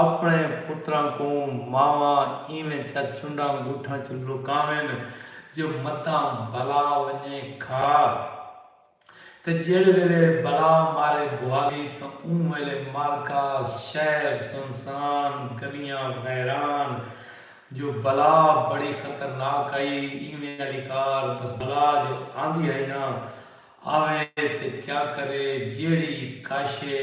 آپݨے پتراں کوں ماواں ایویں چا چنڈاں ڳوٹھاں چ لکاون جو متاں بلا ونڄے کھا تے جیڑھے ویلے بلا مارے بھوالی تاں اوں ویلے مارکاس شہر سنسان گلیاں ویران جو بلا بڑی خطرناک ہئی ایویں آلی کار بس بلا جو آندی ہئی نا آوے تے کیا کرے جیڑھی کاشے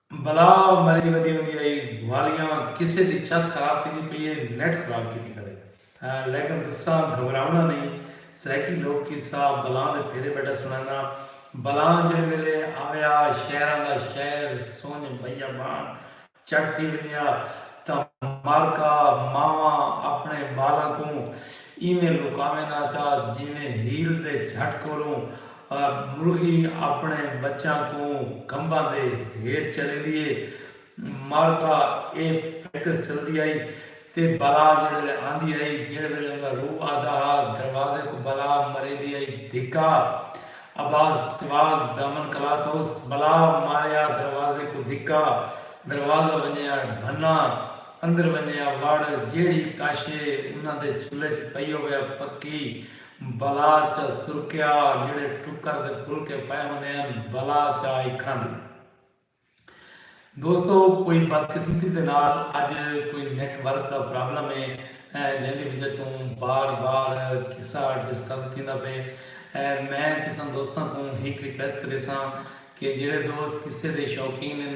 بلا مری ودی ہوندی ہئی گوالیاں کسے دی چس خراب تھیندی پئی ہے نیٹ خراب کیتی کھڑے لیکن تساں گھبراونا نہیں سرائیکی لوک قصہ بلاں دے پھیرے بیٹھا سنڑانا بلاں جیڑھے ویلے آویا شہراں دا شہر سنج بیابان چٹ تھی ونجیا تاں مارکا ماواں اپنے بالاں کوں ایویں لکاویں نہ چا جیویں ہیل دے جھٹ کولوں مرغی اپݨے ٻچیاں کوں کھمباں دے ہیٹھ چلیندی ہے۔ مارتھا ایہ پریکٹس چلدی ہئی تے بلا جیڑھے ویلے آندی ہئی جیڑھے ویلے اوندا روح آندا ہا دروازے کوں بلا مریندی ہئی دھکا اباس سواگ دامن کلاتھوس بلا ماریا دروازے کوں دھکا دروازہ ونجیا بھنا اندر ونجیا وڑ جیڑھی کاشے انہاں دے چولھے چ پئی ہویا پکی بلا چا سرکیا جیڑھے ٹکر دے پھلکے پئے ہوندے ہن بلا چا ای کھاندی ہے۔ دوستو کوئی بدقسمتی دے نال اج کوئی نیٹ ورک دا پرابلم ہے جیندی وجہ توں بار بار قصہ ڈسٹرب تھیندا پئے میں تساں دوستاں کوں ہک ریکویسٹ کریساں کہ جیڑھے دوست قصے دے شوقین ہن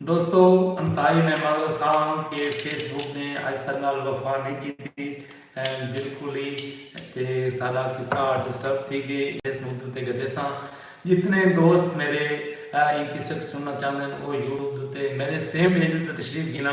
دوستو انتہائی میں مدد خواہاں کہ فیس بک نے آج سر نال وفا نہیں کی تھی بالکل ہی تے سارا قصہ ڈسٹرب تھی گئے اس مدد تے گدے ساں جتنے دوست میرے ان قصے کو سننا چاہتے ہیں وہ یوٹیوب تے میرے سیم ایج تے تشریف گنا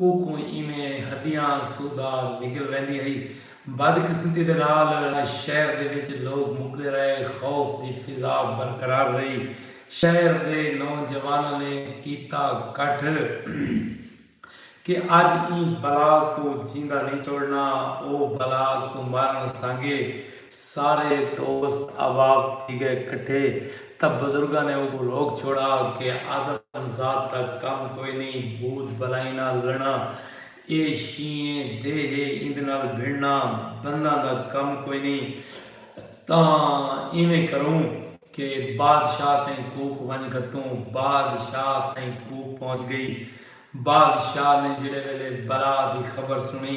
اوکوں ایویں ہڈیاں سودھا نکل ویندی ہئی۔ بدقسمتی دے نال شہر دے وچ لوک مکدے رہے۔ خوف دی فضا برقرار رہی۔ شہر دے نوجواناں نے کیتا کٹھ کہ اج ایں بلا کوں جیندا نئیں چھوڑنا۔ او بلا کوں مارݨ سانگے۔ سارے دوست احباب تھی ڳئے کٹھے تاں بزرگاں نے اونکوں روک چھوڑا کہ آدم ذات دا کم کوئی نئیں بھوت بلائیں نال لڑݨا اے شینہہ دے ہے ایندے نال بھنڑݨا بنداں دا کم کوئی نئیں تاں اینویں کروں کہ بادشاہ تئیں کوک ونڄ گھتوں بادشاہ تئیں کوک پہنچ ڳئی بادشاہ نے جیڑھے ویلے بلا دی خبر سݨی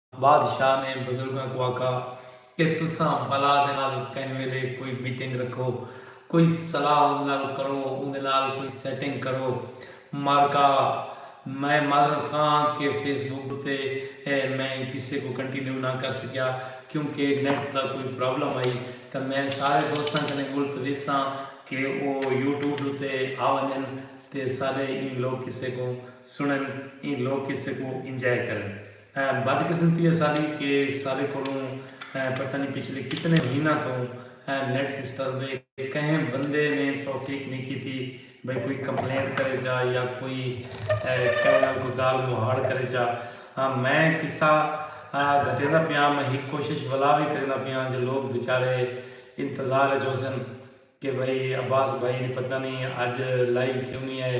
بادشاہ نے بزرگاں کوں آکھا کہ تساں بلا دے نال کہیں ویلے کوئی میٹنگ رکھو، کوئی صلاح اوندے نال کرو، اوندے نال کوئی سیٹنگ کرو۔ مارکا، میں معذرت خواہ ہاں کہ فیس بک اتے میں ایں قصے کوں کنٹینیو نہ کر سکیا کیونکہ نیٹ دا کوئی پرابلم ہئی تاں میں سارے دوستاں کنیں ملتوس ہاں کہ او یوٹیوب اتے آ ونجن تے سارے ایں لوک قصے کوں سنڑن، ایں لوک قصے کوں انجوائے کرن۔ بد قسمتی اساڈی کہ ساڈے کولوں پتہ نی پچھلے کتنے مہیناں توں نیٹ ڈسٹرب ہے کہیں بندے نے توفیق نی کیتی بھئی کوئی کمپلینٹ کرے چا یا کوئی کہیں نال کوئی گال مہاڑ کرے چا میں قصہ گھتیندا پیاں میں ہک کوشش ولا وی کریندا پیاں جو لوگ بیچارے انتظار اچ ہوسن کہ بھئی عباس بھائی نی پتہ نی اج لائیو کیوں نی آئے۔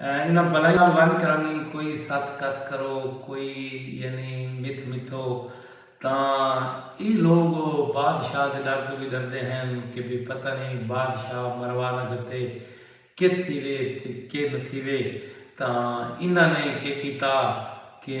انہاں بلائیں نال ونج کرانی کوئی ست کت کرو کوئی یعنی متھ متھو تاں اے لوگ بادشاہ دے ڈر تو بھی ڈردے ہن کہ بھی پتہ نہیں بادشاہ مروا نہ گھتے کے تھیوے تے کے نہ تھیوے تاں انہاں نے کے کیتا کہ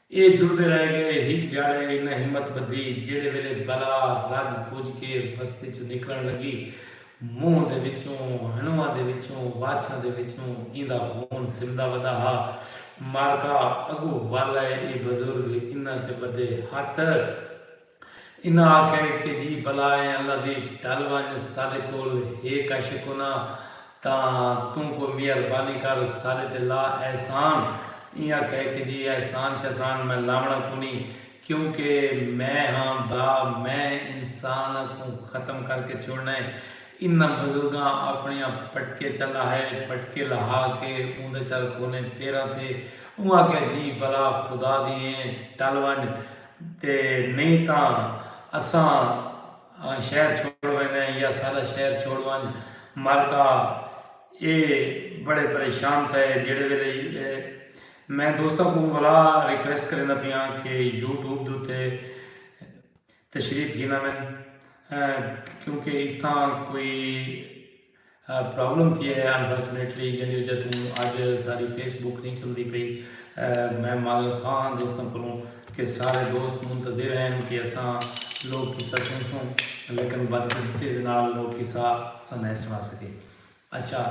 اے جڑدے رہ گئے۔ ہک ڈھیاڑے انہاں ہمت بدھی جیڑھے ویلے بلا رج پج کے بستی چوں نکلن لگی۔ منہ دے وچوں، ہنواں دے وچوں، واچھاں دے وچوں ایندا خون سمدا ودا ہا۔ مارکا اگو ول اے، اے بزرگ انہاں چ بدھے ہتھ۔ انہاں آکھیا کہ جی بلا اے اللہ دی ڈھل ونج ساڈے کول ہے کش کوناں تاں توں کوئی میہر بانی کر ساڈے تے لا احسان ایں آکھیا کہ جی احسان شحسان میں لاونڑاں کونی کیوں کہ میں ہاں با میں انسان کوں ختم کر کے چھوڑنا اے انہاں بزرگاں اپنڑیاں پٹکے چا لاہے پٹکے لہا کے اوندے چا رکھونے پیراں تے اوں آکھیا جی بلا خدا دی اے ڈھل ونج تے نئیں تاں اساں شہر چھوڑ ویندے ہیں یا ساڈا شہر چھوڑ ونج مرکا اے بڑے پریشان تھئے جیڑے ویلے میں دوستاں کو ولا ریکویسٹ کریندا پیاں کہ یوٹیوب دے اتے تشریف گھینا میں کیونکہ اتھاں کوئی پرابلم تھیا ہے انفارچونیٹلی جیندی وجہ توں اج ساڈی فیس بک نہیں چلدی پئی میں معذرت خواہ ہاں دوستاں کولوں کہ سارے دوست منتظر ہن کہ اساں لوک قصہ سنسوں لیکن بدقسمتی دے نال لوک قصہ اساں نئیں سنا سکے اچھا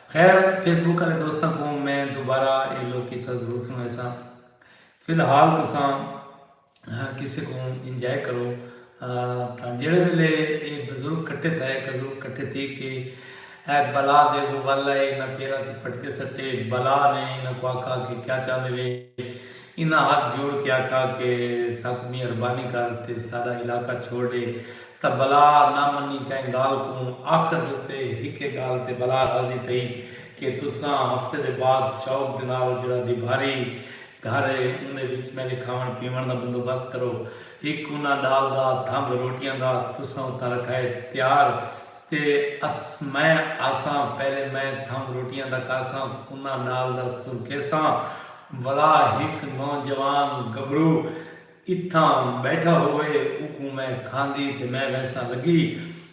خیر فیس بک والے دوستاں کوں میں دوبارہ اے لوک قصہ ضرور سنویساں فی الحال تساں کسے کوں انجوائے کرو تاں جیڑھے ویلے اے بزرگ کٹھے تھئے اے بزرگ کٹھے تھی کے اے بلا دے گوں ول اے انہاں پیراں تے پٹکے سٹے بلا نے انہاں کو آکھا کہ کیا چاہندے وے انہاں ہتھ جوڑ کے آکھا کہ ساکوں مہربانی کر تے ساڈا علاقہ چھوڑ ڈے تاں بلا نہ منی کہیں گال کوں آخر دے اتے ہکے گال تے بلا راضی تھئی کہ تساں ہفتے دے بعد چوک دے نال جیڑھا ڈیبھاری گھر ہے اوندے وچ میڈے کھاون پیون دا بندوبست کرو۔ ہک کونا ڈال دا تھمب روٹیاں دا تساں اتھاں رکھائے تیار تے اس میں آساں پہلے میں تھمب روٹیاں دا کاساں کونا ڈال دا سرکھیساں ولا ہک نوجوان گبرو۔ اتھاں بیٹھا ہووے اوکوں میں کھاندی تے میں ویساں لگی۔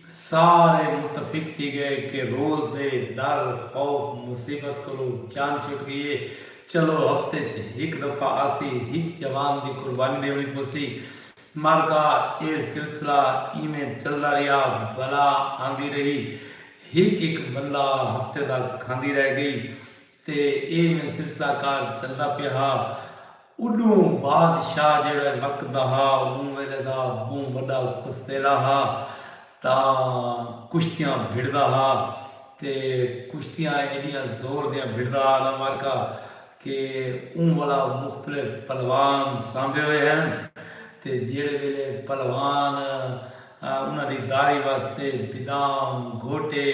سارے متفق تھی ڳئے کہ روز دے ݙر، خوف، مصیبت کولوں جان چھٹ ڳئی اے۔ چلو ہفتے اچ ہک دفعہ آسی، ہک جوان دی قربانی ݙیوݨی پوسی۔ مر ڳا۔ اے سلسلہ ایویں چلدا ریہا۔ بلا آندی رہی۔ ہک ہک بندہ ہفتے دا کھاندی رہ ڳئی۔ تے ایویں سلسلہ کار چلدا پیا ہا۔ اݙوں بادشاہ جیڑھے وقت دا ہا اوں ویلے دا ٻہوں وݙا کشتیلا ہا تاں کشتیاں بھڑدا ہا تے کشتیاں ایݙیاں زور دیاں بھڑدا ہا نا واقعہ کہ اوں والا مختلف پلوان سانبھے ہوئے ہن تے جیڑھے ویلے پلوان انہاں دی داری واسطے بدام گھوٹے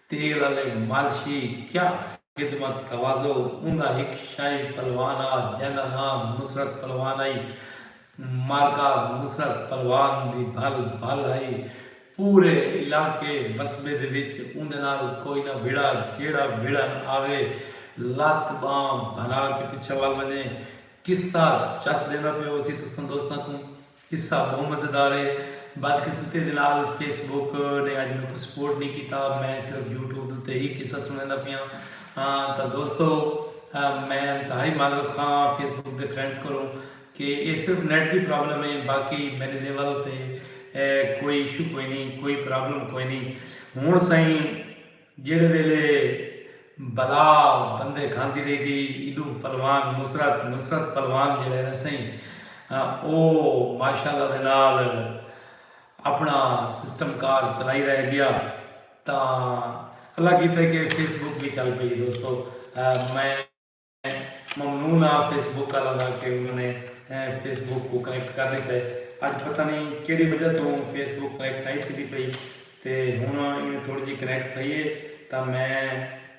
تیل آلے مالشی کیا خدمت تواضع اوندا ہک شائب پلوان آ جیندا ناں نصرت پلوان ہئی معرکہ نصرت پلوان دی بھل بھل ہئی پورے علاقے وسبے دے وچ اوندے نال کوئی نہ وھڑا جیڑھا وھڑن آوے لت ٻانہہ بھنا کے پچھے ول ونجے قصہ چس ݙیندا پئے ہوسی تساں دوستاں کوں۔ قصہ بہوں مزیدار ہے بدقسمتی دے نال فیس بک نے اج میکوں سپورٹ نہیں کیتا میں صرف یوٹیوب دے اتے ہی قصہ سنڑیندا پیاں ہاں تاں دوستو میں انتہائی معذرت خواہ ہاں فیس بک دے فرینڈز کولوں کہ اے صرف نیٹ دی پرابلم ہے باقی میڈے لیول اتے کوئی ایشو کوئی نہیں کوئی پرابلم کوئی نہیں ہن سائیں جیڑھے ویلے بلا بندے کھاندی رہ گئی ایڈوں پلوان نصرت نصرت پلوان جیڑھا ہے نا سائیں او ماشاءاللہ دے نال اپنا سسٹم کار چلائی رہ گیا تاں اللہ کیتے کہ فیس بک بھی چل پئی دوستو میں ممنون ہاں فیس بک آلاں دا کہ انہاں نے فیس بک کوں کنیکٹ کر ݙتا ہے اڄ پتہ نی کیڑھی وجہ توں فیس بک کنیکٹ نائی تھیندی پئی تے ہݨ ایندے تھوڑی جی کنیکٹ تھئی ہے تاں میں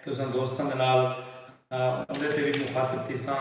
تساں دوستاں دے نال اوندے تے وی مخاطب تھیساں۔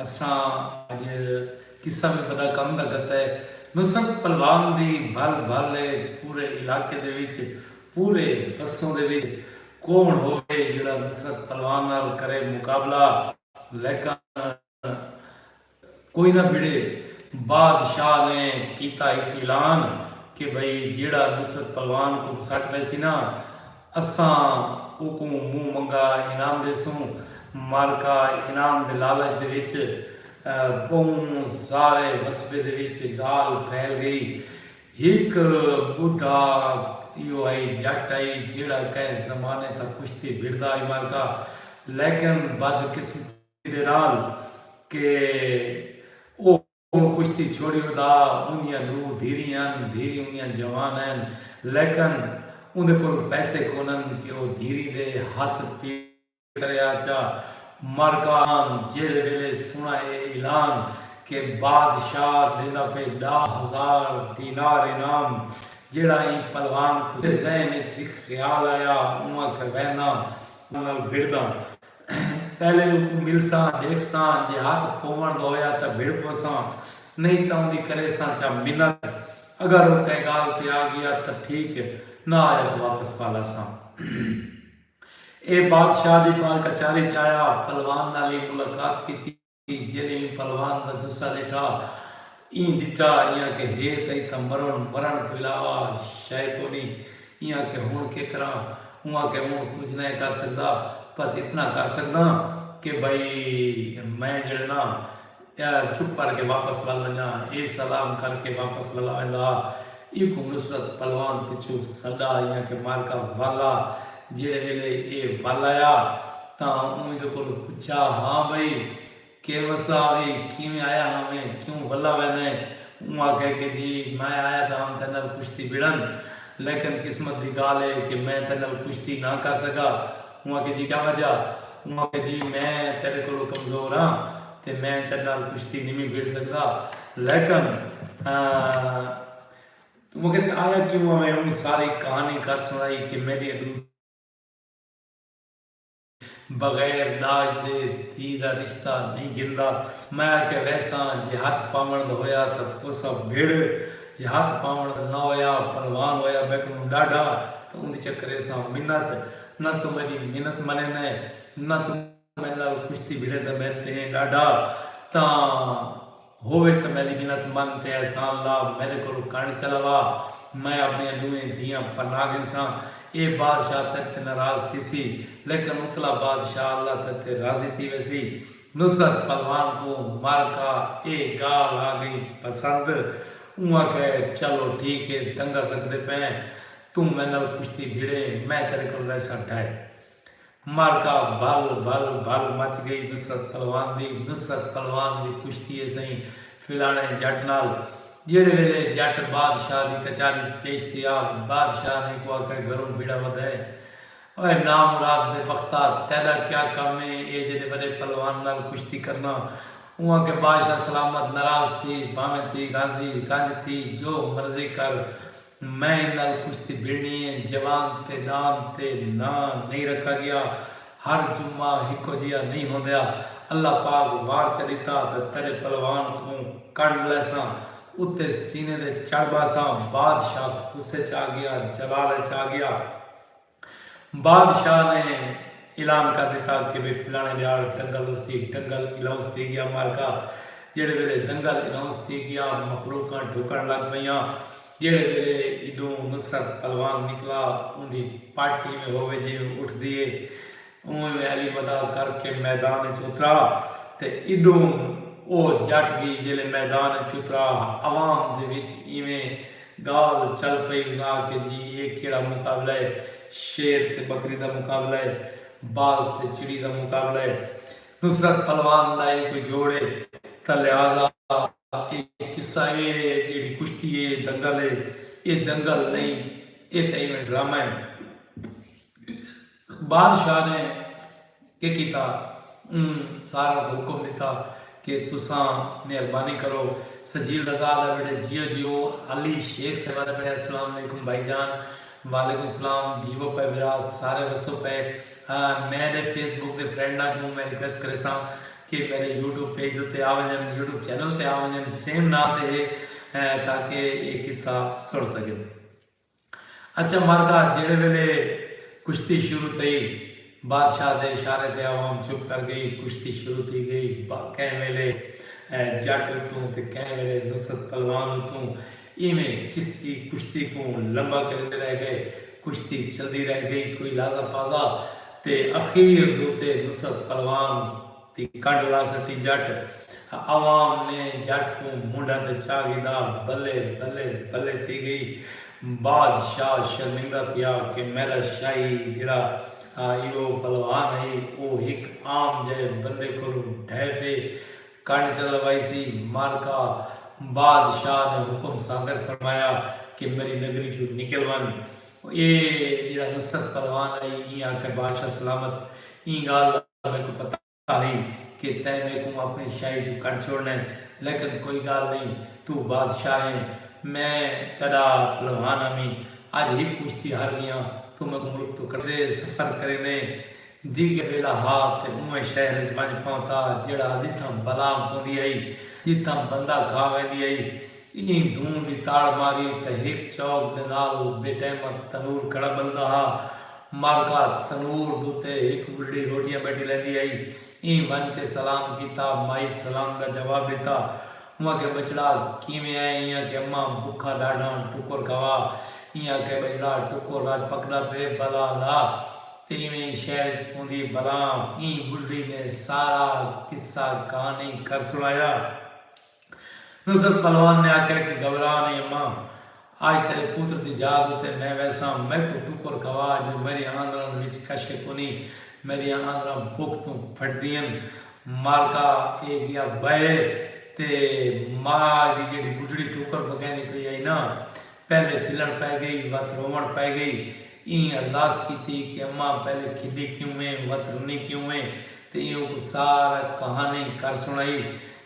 اساں اج قصہ وی وڈا کم دا گھتا ہے۔ نصرت پلوان دی بھل بھل ہے پورے علاقے دے وچ پورے وسوں دے وچ کوہن ہووے جیڑھا نصرت پلوان نال کرے مقابلہ لیکن کوئی نہ بھڑے بادشاہ نے کیتا اعلان کہ بھئی جیڑھا نصرت پلوان کوں گھسٹ ویسی نا اساں اوکوں منہ منگا انعام ݙیسوں، معرکہ انعام دے لالچ دے وچ ٻہوں سارے وثبے دے وچ ڳالھ پھیل ڳئی۔ ہک ٻڈھا ایہو ہئی ڄٹ ہئی جیڑھا کہیں زمانے تاں کشتی بھڑدا ہئی معرکہ لیکن بدقسمتی دے نال کہ او۔ اوں کشتی چھوڑی ادا اوندیاں ڈو دھیریں ہن دھیریں اوندیاں جوان ہن لیکن اوندے کولوں پیسے کونن کہ او دھیریں دے ہتھ پیڑ کرے آچا مرکان جیڑھے ویلے سنڑا اے اعلان کہ بادشاہ ڈیندا پے ڈا ہزار دینار انعام جیڑھا ایں پلوان کوں ذہن اچ ہک خیال آیا اوں آکھے وینداں نال بھڑداں۔ پہلے اوکوں ملساں، ڈیکھساں، جے ہتھ پووݨ دا ہویا تاں بھڑ پوساں، نئیں تاں اوندی کریساں چا منت، اگر او کہیں ڳالھ تے آ ڳیا تاں ٹھیک اے، نہ آیا تاں واپس پالاساں۔ ایہ بادشاہ دی بال کچاری چ آیا، پلوان نال ایں ملاقات کیتی۔ جیلھے ایں پلوان دا جثہ ݙٹھا ایں ݙٹھا ایں آکھیا ہے تاں اتھاں مرݨ مرݨ توں علاوہ شئے کونی ایں آکھیا ہݨ کے کراں اوں آکھیا ہݨ کجھ نئیں کر سڳدا بس اتنا کر سڳداں کہ بھئی میں جیڑھے نا چپ کر کے واپس ول ونڄاں اے سلام کر کے واپس ولا ویندا ہا ایکوں نصرت پلوان پچھوں سݙا ایں آکھیا معرکہ ولا جیڑھے ویلے ایہ ول آیا تاں اوں ایندے کولوں پچھیا، ہاں بھئی کے مسئلہ آوی؟ کیویں آیا ہاں ویں؟ کیوں ولا ویندے؟ اوں آکھیا کہ جی میں آیا تاں ہم تیڈے نال کشتی بھڑن لیکن قسمت دی گالھ اے کہ میں تیڈے نال کشتی نہ کر سکا۔ اوں آکھیا جی کیا وجہ؟ اوں آکھیا جی میں تیڈے کولوں کمزور ہاں تے میں تیڈے نال کشتی نویں بھڑ سکدا لیکن توں مکیں تے آیا کیوں ہا میں اونی ساری کہانی کر سنڑائی کہ میڈیاں ڈو تھیاں بغیر داج دے دھی دا رشتہ نئیں گھندا میں آکھیا ویساں جے ہتھ پاونڑ دا ہویا تاں پوسا بھڑ جے ہتھ پاونڑ دا نہ ہویا پلوان ہویا بیٹھوں ڈاڈھا تاں اوندی چکریساں منت نہ توں میڈی منت منیندیں نہ توں میڈے نال کشتی بھڑے تاں میڈے تے ایں ڈاڈھا تاں ہووے تاں میڈی منت من تے احسان لا میڈے کولوں کن چلاوا میں اپنیاں ڈوہیں دھیاں پناہ گھنساں اے بادشاہ تیڈے تے ناراض تھیسی لیکن اتلا بادشاہ اللہ تیڈے تے راضی تھی ویسی نصرت پلوان کوں مر کا اے گالھ آ گئی پسند اوں آکھے چلو ٹھیک اے دنگل رکھدے پئیں توں میڈے نال کشتی بھڑیں میں تیڈے کول ویساں ڈھے معرکہ بھل بھل بھل مچ گئی نصرت پلوان دی نصرت پلوان دی کشتی اے سئیں فلانے جٹ نال جیڑھے ویلے جٹ بادشاہ دی کچاری اچ پیش تھیا بادشاہ نے اکوں آکھیا گھروں بھیڑا ودھئے اوئے نامراد بے بختا تیڈا کیا کم اے اے جیڈے وڈے پلوان نال کشتی کرنا اوں آکھیا بادشاہ سلامت ناراض تھی بھانویں تھی راضی رنج تھی جو مرضی کر میں ان نال کشتی بھڑنی اے۔ جوان تے ڈان تے ناں نئیں رکھا گیا۔ ہر جمعہ ہکو جیہا نئیں ہوندیا۔ اللہ پاک وار چلیتا تاں تیڈے پلوان کوں کنڈ لیساں۔ اتے سینے دے چڑھ باساں۔ بادشاہ غصے چ آ گیا۔ جلال اچ آ گیا۔ بادشاہ نے اعلان کر ݙتا کہ بھئی فلاݨے ݙیہاڑ دنگل اس تھی دنگل اناؤنس تھی ڳیا معرکہ جیڑھے ویلے دنگل اناؤنس تھی ڳیا مخلوقاں ݙکݨ لڳ پئیاں جیڑھے ویلے ایݙوں نصرت پلوان نکلا اوندی پٹ ایویں ہووے جیویں اٹھدی ہے اونویں میں علی مدا کر کے میدان اچ اترا تے ایڈوں او جٹ گئی جیلے میدان اچ اترا ہا عوام دے وچ ایویں گال چل پئی ونا کہ جی اے کیڑا مقابلہ اے شیر تے بکری دا مقابلہ اے باز تے چڑی دا مقابلہ اے نصرت پلوان دا اے کوئی جوڑ اے تاں لہذا اے قصہ اے جیڑھی کشتی اے اے دنگل اے اے دنگل نئیں اے تاں ایویں ڈرامہ اے۔ بادشاہ نے کے کیتا اوں سارا کوں حکم ڈتا کے تساں مہربانی کرو سجیل رضا دا ویڑھے جیو جیو علی شیخ صاحبہ دا ویڑھے السلام علیکم بھائی جان وعلیکم السلام جیو پئے بھرا سارے وسو پئے میں ڈے فیس بک دے فرینڈاں کوں میں ریکویسٹ کریساں کے میرے یوٹیوب پیج دے تے آ ونجن یوٹیوب چینل تے آ ونجن سیم ناں تے ہے تاکہ اے قصہ سن سکن۔ اچھا مرغا جیڑھے ویلے کشتی شروع تھئی بادشاہ دے اشارے تے عوام چپ کر گئی کشتی شروع تھی گئی کہیں ویلے جٹ اتوں تے کہیں ویلے نصرت پلوان اتوں ایویں کشتی کشتی کوں لمبا کریندے رہ گئے کشتی چلدی رہ گئی کوئی لازا پازا تے اخیر دو تے نصرت پلوان دی کڈھ لا سٹی جٹ ہ عوام نے جٹ کوں منڈھا تے چا گھدا بلے بلے بلے تھی گئی باد شاہ شرمندہ تھیا کہ میڈا شاہی جیڑھا ہ ایہو پلوان ہئی او ہک عام جئے بندے کولوں ڈھے پے کڈھ چا لوائیسی مر کا باد شاہ نے حکم صادر فرمایا کہ میڈی نگری چوں نکل ون اے جیڑھا نصرت پلوان ہئی ایں آکھے بادشاہ سلامت ایں گال میکوں پتہ ہئی کہ تیں میکوں اپݨی شاہی چوں کڈھ چھوڑݨے لیکن کوئی گالھ نئیں توں بادشاہ ایں میں تیڈا پہلوان ہامی اج ہک کشتی ہار گیاں توں میکوں ملک توں کڈھے سفر کریندے دیگے ویلا ہا تے اونویں شہر اچ ونج پہنتا جیڑھا ادھیتھاں بلام پوندی ہئی جتھاں بندہ کھا ویندی ہئی ایں دھوں دی تاڑ ماری تاں ہک چوک دے نال بے ٹیمہ تنور کھڑا بلدا ہا۔ مارکا تنور دوتے ہک بڈھڑی روٹیاں بیٹھی لیندی ہئی۔ ایں ونج کے سلام کیتا۔ مائی سلام دا جواب ڈتا۔ اوں آکھیا بچڑا کیویں ایں؟ ایں آکھیا اماں بکھا ڈاڈھاں ٹکر کھوا۔ ایں آکھیا بچڑا ٹکر اج پکدا پئے بلاں دا تے ایویں ای شہر اچ پوندی اے بلاں۔ ایں بڈھڑی نے سارا قصہ کہانی کر سنڑایا۔ نصرت پہلوان نے آکھیا کہ گھبرا نئیں اماں، اج تیڈے پوتر دی یاد اتے میں ویساں، میکوں ٹکر کھوا جو میڈیاں آندراں وچ کشے کونی، میڈیاں آندراں بکھ توں پھٹدین، مالکا اے گیا بہے تے ما دی جیڈی بڈھڑی ٹکر پکیندی پئی ہئی نا، پہلے کھلن پئے گئی وت روون پئے گئی، ایں ارداس کیتی کہ اماں پہلے کھلی کیوں ایں وت رنی کیوں ایں تے ایں اوکوں سارا کہانی کر سنڑائی۔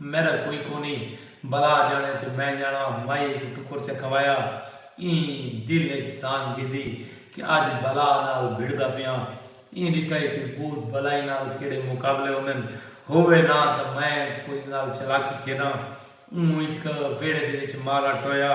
میݙا کوئی کونھی بھلا ڄاݨے تے میں ڄاݨاں مائی کوں ٹکر چا کھوایا ایں دل اچ سانگھ ڳھدی کہ اڄ بھلا نال بھڑدا پیاں ایں ݙٹھا اے کہ بھوت بھلائی نال کیڑھے مقابلے ہوندن ہووے نہ تاں میں کوئی نال چلاکی کھیݙاں اوں ہک ویڑھے دے وچ مارا ٹویا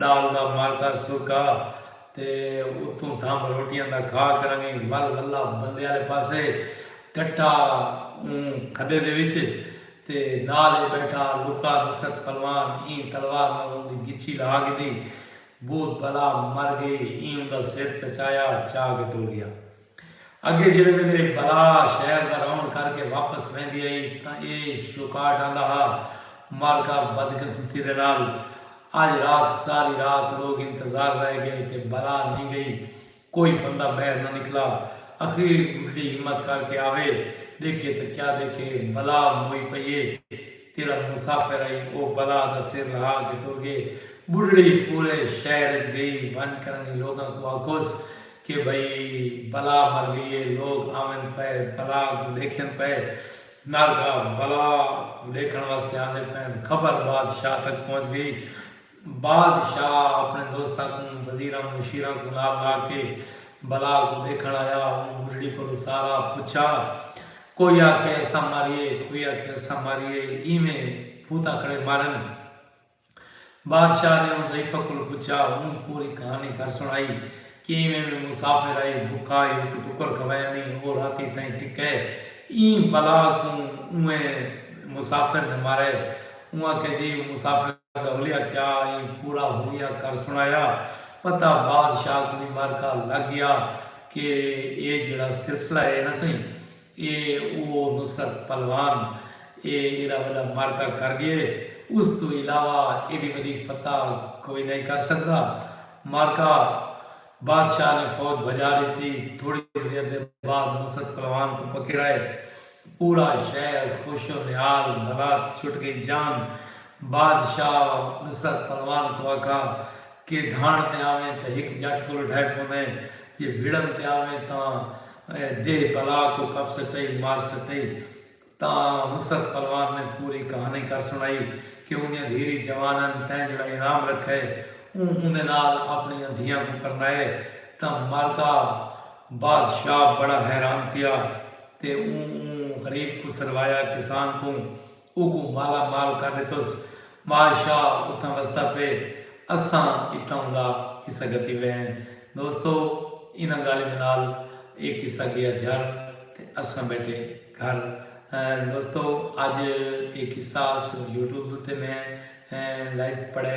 ڈال دا مارکا سرکا تے اتوں تھم روٹیاں دا کھا کرانگے ول ولہ بندے آلے پاسے ٹٹا اوں کھڈے دے وچ تے نال اے بیٹھا لکا نصرت پلوان ایں تلوار نال اوندی گچھی لا گھدی بھوت بلا مر گئی ایں اوندا سر چچایا چا کے ٹر گیا۔ اگے جیڑھے ویلے بلا شہر دا رون کر کے واپس ویندی ہئی تاں اے شوکاٹ آندا ہا، مارکا بدقسمتی دے نال اج رات ساری رات لوگ انتظار رہ گئے کہ بلا نی گئی، کوئی بندہ بہر نہ نکلا، اخیر بڈھڑی ہمت کر کے آوے ڈیکھے تاں کیا دیکھے بلا موئی پئی اے، جیڑھا مسافر ہئی او بلا دا سر لہا کے ٹر گئے، بڈھڑی پورے شہر اچ گئی ونج کرنگی لوگاں کوں آکھوس کہ بھئی بلا مر گئی ہے لوگ آون پئے بلا کوں ڈیکھن پئے نال کا بلا کوں ڈیکھن واسطے آندے پئن خبر بادشاہ تک پہنچ گئی بادشاہ اپنے دوستاں کوں وزیراں مشیراں کوں نال لا کے بلا کوں ڈیکھن آیا اوں بڈھڑی کولو سارا پچھا کوئی آکھے اساں ماریے کوئی آکھے اساں ماریے ایویں بھوتاکڑے مارن۔ بادشاہ نے مصیفہ کولوں پچھیا اوں پوری کہانی کر سنڑائی کیویں وی مسافر آئی بھکا ہی ہک ٹکر کھوایا نی او راتی تائیں ٹکے ایں بلا کوں اونیں مسافر نے مارے اوں آکھیا جی اوں مسافر دا حلیہ کیا ایں پورا حلیہ کر سنڑایا پتہ بادشاہ کوں وی مرکا لگ گیا کہ اے جیڑھا سلسلہ اے نہ سئیں اے او نصرت پلوان اے ایڈا وڈا معرکہ کر گئے اس توں علاوہ ایڈی وڈی فتح کوئی نئیں کر سکدا معرکہ بادشاہ نے فوج بھجا ڈتی تھوڑی دیر دے بعد نصرت پلوان کوں پکیڑائے پورا شہر خوش و نہال بھلا تھی چھٹ گئی جان بادشاہ نصرت پلوان کوں آکھا کے ڈھانڑ تے آویں تاں ہک جٹ کولو ڈھے پوندے جے بھڑن تے آویں تاں دیہہ بلا کوں کپ سٹئی مار سٹئی تاں نصرت پلوان نے پوری کہانی کر سنڑائی کے اوندیاں دھیری جوان ہن تیں جیڑھا انعام رکھئے اوں اوندے نال اپنڑیاں دھیاں کوں پرنائے تاں مردا بادشاہ بڑا حیران تھیا تے اوں اوں غریب کوں سروایا کسان کوں اوکوں مالا مال کر ڈتس۔ بادشاہ اتھاں وسدا پئے اساں اتھاؤں دا قصہ گھتی وے ہیں۔ دوستو انہاں گالھیں دے نال اے قصہ گیا جھر تے اساں بیٹھے گھر۔ دوستو اج اے قصہ صرف یوٹیوب تے میں لائیو پڑھے۔